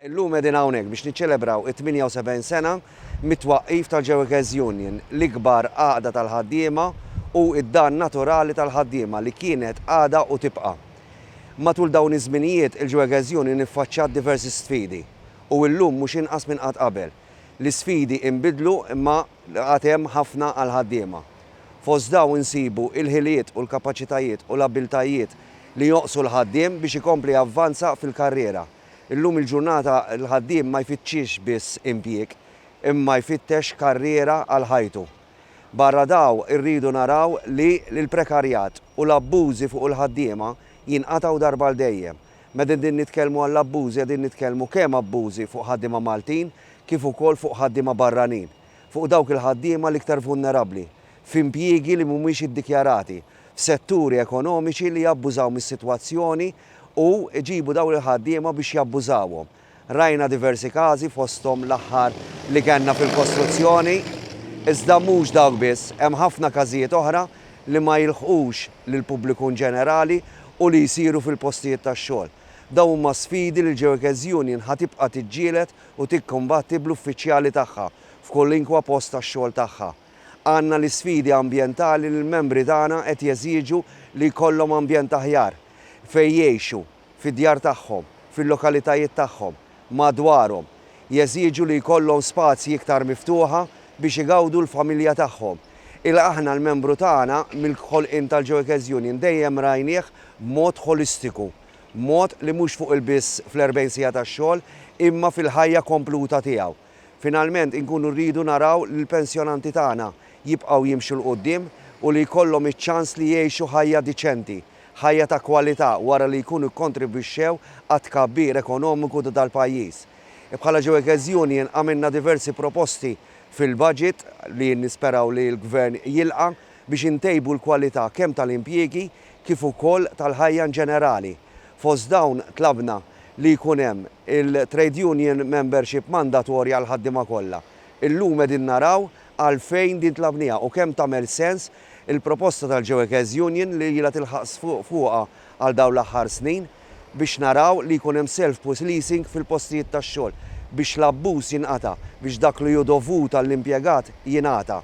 Illum qegħdin hawnhekk biex niċċelebraw it-78 sena mit-twaqqif tal-Jewekers Union, l-ikbar għaqda tal-ħaddiema u d-dar naturali tal-ħaddiema li kienet, għadha u tibqa'. Matul dawn iż-żminijiet il-Jewekers Union iffaċċat diversi sfidi u illum mhux inqas minn qatt qabel. L-isfidi inbidlu imma għad hemm ħafna għall-ħaddiema. Fost dawn insibu l-ħiliet u l-kapaċitajiet u l-abbiltajiet li jonqsu l-ħaddiem biex ikompli javvanza fil-karriera. Illum il-ġurnata l-ħaddiem ma jfittxix biss impjieg, imma jfittex karriera għal ħajtu. Barra daw irridu naraw li l-prekarjat u l-abbużi fuq il-ħaddiema jinqatgħu darba għal dejjem. Meta qegħdin nitkellmu għall-abbużi qegħdin nitkellmu kemm abbużi fuq ħaddiema Maltin kif ukoll fuq ħaddiema barranin, fuq dawk il-ħaddiema l-iktar vulnerabbli, f'impjiegi li mhumiex iddikjarati setturi ekonomiċi li jabbużaw mis-sitwazzjoni u jġibu dawn il-ħaddiema biex jabbużawhom. Rajna diversi każi fosthom l-aħħar li kellna fil-kostruzzjoni, iżda mhux dawk biss, hemm ħafna każijiet oħra li ma jilħqux lill-pubbliku inġenerali u li jsiru fil-postijiet tax-xogħol. Dawn huma sfidi li l-Jurkes Union ħa tibqa' tiġġieled u tikkumbatti bl-uffiċjali tagħha f'kolinkwa post tax-xogħol tagħha. Għandna l-isfidi ambjentali li l-membri tagħna qed jeżiġu li jkollhom ambjent aħjar fejn jgħixu, fid-djar tagħhom, fil-lokalitajiet tagħhom, madwarhom. Jeżiġu li jkollhom spazji iktar miftuħa biex igawdu l-familja tagħhom. Il aħna l-membru tagħna mill-ħolqien tal-Joekes Union dejjem rajnieh b'mod ħolistiku, mod li mhux fuq il biss fl-40 siegħa tax-xogħol imma fil-ħajja kompluta tiegħu. Finalment inkunu rridu naraw li l-pensjonanti tagħna jibqgħu jimxu 'l quddiem u li jkollhom iċ-ċans li jgħixu ħajja diċenti, ħajja ta' kwalità wara li jkunu kkontribwixxew għat-tkabbir ekonomiku ta' dal-pajjiż. Bħala Joekes Union għamilna diversi proposti fil-budget li nisperaw li l-Gvern jilqa' biex intejbu l-kwalità kemm tal-impjiegi kif ukoll tal-ħajja inġenerali. Fost dawn tlabna li jkun hemm il-trade union membership mandatorja għall-ħaddiema kollha. Illum qegħdin naraw għalfejn din tlabniha u kemm tagħmel sens il-proposta tal-Geoekes Union li ilha tilħaq sfuq fuqha għal dawn l-aħħar snin biex naraw li jkun hemm self-pusleasing fil-postijiet tax-xogħol biex l-abbuż jinqata', biex dak li hu dovut għall-impjegat jingħata.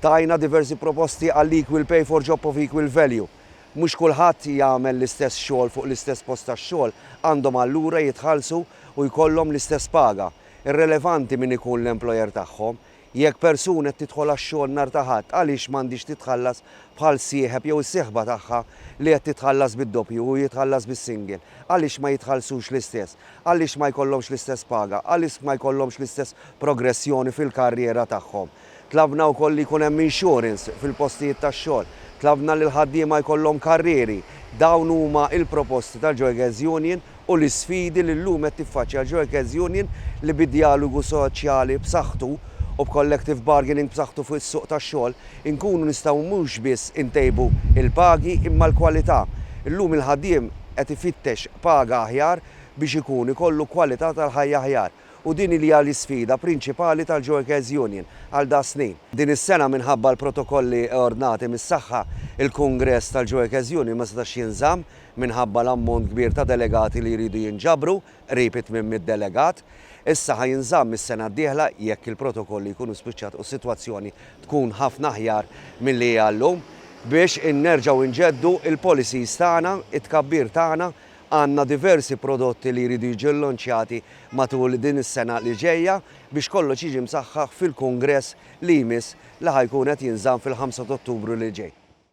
Tajna diversi proposti għall-equal pay for job of equal value. Mhux kulħadd jagħmel l-istess xogħol fuq l-istess post tax-xogħol, għandhom allura jitħallsu u jkollhom l-istess paga. Irrelevanti min ikun l-employer tagħhom. Jekk persuna qed tidħol għax-xogħol nhar ta' Ħadd għaliex m'għandhiex titħallas bħal sieħeb jew is-sieħba tagħha li qed titħallas bid-doppju u jitħallas bis-single? Għaliex ma jitħallsux l-istess? Għaliex ma jkollhomx l-istess paga? Għaliex ma jkollhomx l-istess progressjoni fil-karriera tagħhom? Tlabna wkoll li jkun hemm insurance fil-postijiet tax-xogħol. Tlabna li l-ħaddiema jkollhom karrieri. Dawn huma l-proposti tal-Joekes Union u l-isfidi li llum qed tiffaċċja l-Joekes Union li bi djalogu soċjali b'saħħtu u b'collective bargaining b'saħħtu fuq is-suq tax-xogħol inkunu nistgħu mhux biss intejbu l-pagi imma l-kwalità. Illum il-ħaddiem qed ifittex paga aħjar biex ikun ikollu kwalità tal-ħajja aħjar. u din li hija l-isfida prinċipali tal-Joekes Union għal das-snin. Din is-sena minħabba l-protokolli eordnati mis-saħħa, il-Kungress tal-Joekes Union ma setax jinżamm minħabba l-ammont kbir ta' delegati li jridu jinġabru, qrib it-tmien mitt delegat. Issa ħa jinżamm is-sena d-dieħla jekk il-protokolli jkunu spiċċat u s-sitwazzjoni tkun ħafna aħjar milli hija llum, biex in nerġgħu nġeddu l-policies tagħna, it-tkabbir tagħna, Għandna diversi prodotti li jridu jiġu llonċjati matul din is-sena li ġejja biex kollox jiġi msaħħaħ fil-kungress li jmiss li ħa jkun qed jinżamm fil-ħamsa t'Ottubru li ġej.